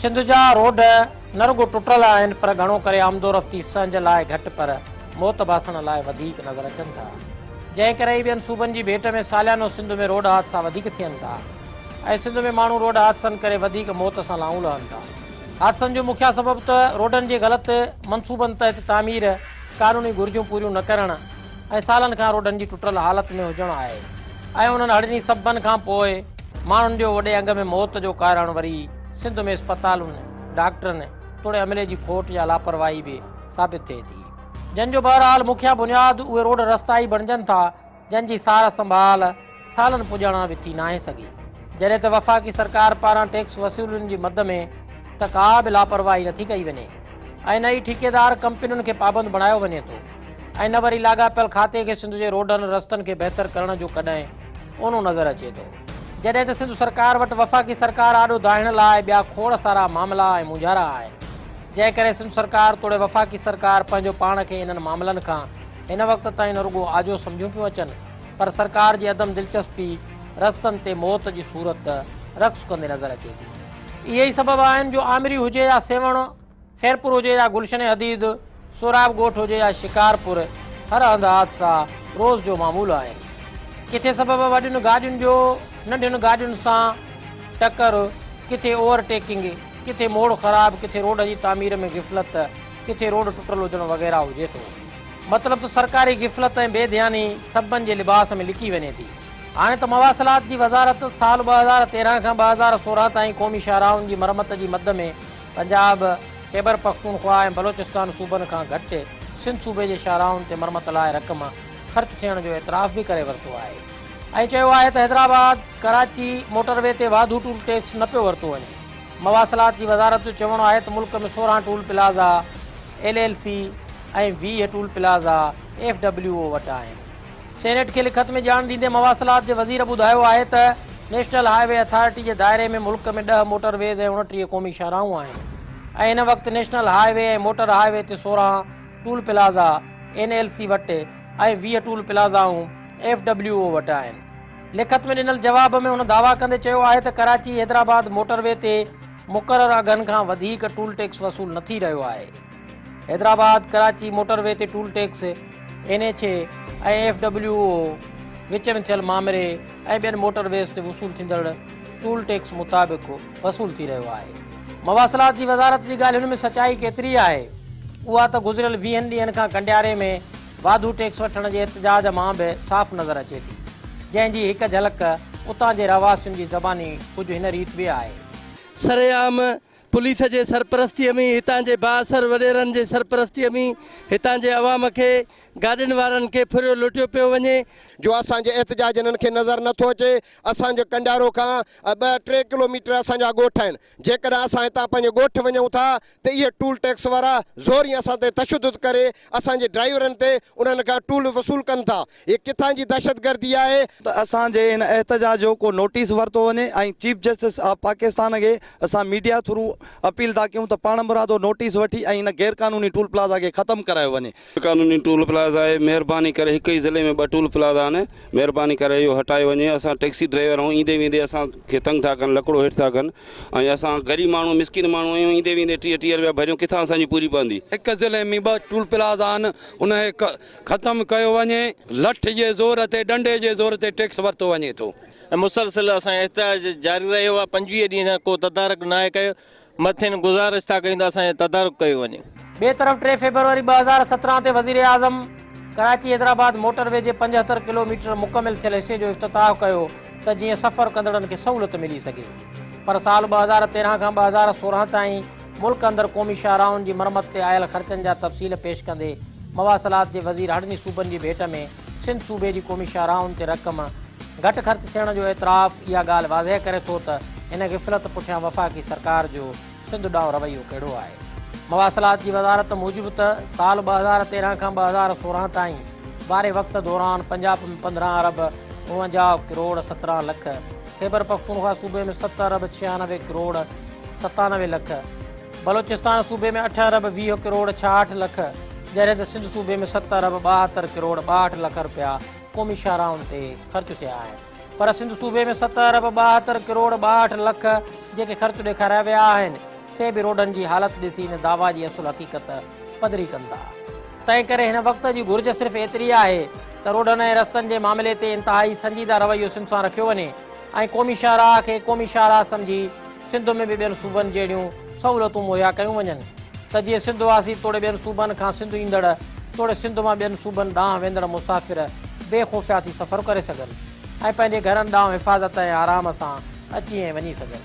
سنڌ جا روڊ نه رڳو ٽٽل آهن پر گهڻو ڪري آمدورفتي سهنج لاء گهٽ پر موت باسڻ لاء وڌيڪ نظر اچن ٿا جنهن ڪري ئي ٻين صوبن جي ڀيٽ ۾ ساليانو سنڌ ۾ روڊ حادثا وڌيڪ ٿين ٿا ۽ سنڌ ۾ ماڻهو روڊ حادثن ڪري وڌيڪ موت سان لانهون لهن ٿا حادثن جو مکيه سبب ته روڊن جي غلط منصوبن تحت تعمير قانوني گهرجون پوريون نه ڪرڻ ۽ سالن کان روڊن جي ٽٽل حالت ۾ هجڻ آهي ۽ انهن هڙني سببن کان پوء ماڻهن جو وڏي انگ ۾ موت جو ڪارڻ وري سنڌ ۾ اسپتالن، ڊاڪٽرن توڙي عملي جي کوٽ يا لاپرواهي به ثابت ٿئي ٿي. جنهن جو بهرحال مکيه بنياد اهي روڊ رستا ئي بڻجن ٿا جن جي سار سنڀال، سالن پڄاڻان به ٿي ناهي سگهي. جڏهن ته وفاقي سرڪار پاران ٽيڪس وصولين جي مد ۾ ته ڪا به لاپرواهي نٿي ڪئي وڃي ۽ نه ئي ٺيڪيدار ڪمپنين کي پابند بڻايو وڃي ٿو ۽ نه وري لاڳاپيل کاتي کي سنڌ جي روڊن رستن کي بهتر ڪرڻ جو ڪڏهن اونو نظر اچي ٿو جڏهن ته سنڌ سرڪار وٽ وفاقي سرڪار آڏو دانهڻ لاء ٻيا کوڙ سارا معاملا ۽ مونجهارا آهن جنهن ڪري سنڌ سرڪار توڙي وفاقي سرڪار پنهنجو پاڻ کي انهن معاملن کان هن وقت تائين نه رڳو آجو سمجهيون پيون اچن پر سرڪار جي عدم دلچسپي رستن تي موت جي صورت رقص ڪندي نظر اچي ٿي. اهي ئي سبب آهن جو آمري هجي يا سيوهڻ، خيرپور هجي يا گلشن حديد، سهراب ڳوٺ هجي يا شڪارپور هر هنڌ حادثا روز جو معمول آهن. ڪٿي سبب وڏين گاڏين جو ننڍين گاڏين سان ٽڪر، ڪٿي اوور ٽيڪنگ، ڪٿي موڙ خراب، ڪٿي روڊ جي تعمير ۾ غفلت، ڪٿي روڊ ٽٽل هجڻ وغيره هجي ٿو. مطلب ته سرڪاري غفلت ۽ بي ڌياني سببن جي لباس ۾ لڪي وڃي ٿي. هاڻي ته مواصلات جي وزارت سال ٻه هزار تيرهن کان ٻه هزار سورهن تائين قومي شاهراهن جي مرمت جي مد ۾ پنجاب، خيبرپختونخوا ۽ بلوچستان صوبن کان گهٽ سنڌ صوبي جي شاهراهن تي مرمت لاء رقم خرچ ٿيڻ جو اعتراف به ڪري ورتو آهي ۽ چيو آهي ته حيدرآباد، ڪراچي موٽر وي تي واڌو ٽول ٽيڪس نه پيو ورتو وڃي. مواصلات جي وزارت جو چوڻ آهي ته ملڪ ۾ سورهن toll plaza L L C ۽ ويهه toll plaza F W O وٽ آهن. سينيٽ کي لکت ۾ ڄاڻ ڏيندي مواصلات جي وزير ٻڌايو آهي ته نيشنل هاء وي اٿارٽي جي دائري ۾ ملڪ ۾ ڏهه موٽر ويز ۽ اڻٽيهه قومي شاهراهون آهن ۽ هن وقت national highway ۽ motor highway تي سورهن toll plaza N L C وٽ ۽ ويهه ٽول پلازائون ايف ڊبليو او وٽ آهن. لکت ۾ ڏنل جواب ۾ هن دعويٰ ڪندي چيو آهي ته ڪراچي حيدرآباد موٽروي تي مقرر اگهن کان وڌيڪ ٽول ٽيڪس وصول نه ٿي رهيو آهي. حيدرآباد ڪراچي موٽروي تي toll tax N H A ۽ F W O وچ ۾ ٿيل مامري ۽ ٻين موٽرويز تي وصول ٿيندڙ ٽول ٽيڪس مطابق وصول ٿي رهيو آهي. مواصلات جي وزارت جي ڳالهين ۾ سچائي ڪيتري آهي اها ته گذريل ويهن ڏينهن کان ڪنڊياري ۾ واڌو ٽيڪس وٺڻ جي احتجاج مان به صاف نظر اچي ٿي، جنهن جي هڪ جهلڪ اتان جي رهواسين جي زباني ڪجهه هن ريت به آهي. سرعام پوليس جي سرپرستيء ۾ هتان جي بااثر وڏيرن جي سرپرستيء ۾ هتان جي عوام کي گاڏين وارن کي ڦريو لٽيو پيو وڃي. جو اسان جو احتجاج هنن کي نظر نه ٿو اچي، اسان جو ڪنڊيارو کان ٻه ٽي ڪلوميٽر اسان جا ڳوٺ آهن، جيڪڏهن اسان هتان پنهنجي ڳوٺ وڃون ٿا ته اهي ٽول ٽيڪس وارا زورين اسان تي تشدد ڪري اسان جي ڊرائيورن تي انهن کان ٽول وصول ڪن ٿا، هي ڪٿان جي دهشتگردي آهي؟ ته اسان جي هن احتجاج جو ڪو نوٽيس ورتو وڃي ۽ چيف جسٽس آف پاڪستان کي اسان ميڊيا ٿرو اپيل ٿا ڪيون ته پاڻمرادو نوٽيس وٺي ۽ هن غيرقانوني ٽول پلازا کي ختم ڪرايو وڃي. غيرقانوني ٽول پلازا آهي، مهرباني ڪري هڪ ئي ضلعي ۾ ٻه ٽول پلازا آهن، مهرباني ڪري اهو هٽايو وڃي، اسان ٽئڪسي ڊرائيور آهيون ايندي ويندي اسان کي تنگ ٿا ڪن، لڪڙو هيٺ ٿا ڪن ۽ اسان غريب ماڻهو مسڪين ماڻهو آهيون ايندي ويندي ٽيهه ٽيهه رپيا ڀريون ڪٿان اسان جي پوري پوندي. هڪ ضلعي ۾ ٻه ٽول پلازا آهن ان کي ختم ڪيو وڃي، لٺ جي زور تي ڏنڊي جي زور تي ٽيڪس ورتو وڃي ٿو. ۽ مسلسل اسان جو احتجاج جاري رهيو آهي، پنجويهه ڏينهن کان ڪو تدارڪ ناهي ڪيو، مٿين گذارش ٿا ڪيون ته اسان جو تدارڪ ڪيو وڃي. ٻئي طرف ٽي فيبروري ٻه هزار سترهن تي وزيراعظم ڪراچي حيدرآباد موٽر وي جي پنجهتر ڪلوميٽر مڪمل ٿيل حصي جو افتتاح ڪيو ته جيئن سفر ڪندڙن کي سهولت ملي سگهي پر سال ٻه هزار تيرهن کان ٻه هزار سورهن تائين ملڪ اندر قومي شاهراهن جي مرمت تي آيل خرچن جا تفصيل پيش ڪندي مواصلات جي وزير هڙني صوبن جي ڀيٽ ۾ سنڌ صوبي جي قومي شاهراهن تي رقم گهٽ خرچ ٿيڻ جو اعتراف اها ڳالهه واضح ڪري ٿو ته ان غفلت پٺيان وفاقي سرڪار جو سنڌ ڏانهن رويو ڪهڙو آهي. مواصلات جي وزارت موجب ته سال ٻه هزار تيرهن کان ٻه هزار سورهن تائين واري وقت دوران پنجاب ۾ پندرهن ارب اڻونجاهه ڪروڙ سترهن لک، خيبرپختونخوا صوبي ۾ ست ارب ڇيانوي ڪروڙ ستانوي لک، بلوچستان صوبي ۾ اٺ ارب ويهه ڪروڙ ڇاهٺ لک جڏهن ته سنڌ صوبي ۾ ست ارب ٻاهتر ڪروڙ ٻاهٺ لک رپيا قومي شاهراهن تي خرچ ٿيا آهن پر سنڌ صوبي ۾ ست ارب ٻاهتر ڪروڙ ٻاهٺ لک جيڪي خرچ ڏيکاريا ويا آهن سي به روڊن جي حالت ڏسي ان دعويٰ جي اصل حقيقت پڌري ڪن ٿا تنهن ڪري هن وقت جي گهرج صرف ايتري آهي ته روڊن ۽ رستن جي معاملي تي انتهائي سنجيده رويو سنڌ سان رکيو وڃي ۽ قومي شاهراهه کي قومي شاهراهه سمجهي سنڌ ۾ به ٻين صوبن جهڙيون سهولتون مهيا ڪيون وڃن ته جيئن سنڌ واسي توڙي ٻين صوبن کان سنڌ ايندڙ توڙي سنڌ مان ٻين صوبن ڏانهن ويندڙ مسافر بي خوفيا ٿي سفر ڪري سگهن ۽ پنهنجي گهرن ڏانهن حفاظت ۽ آرام سان اچي ۽ وڃي سگهن.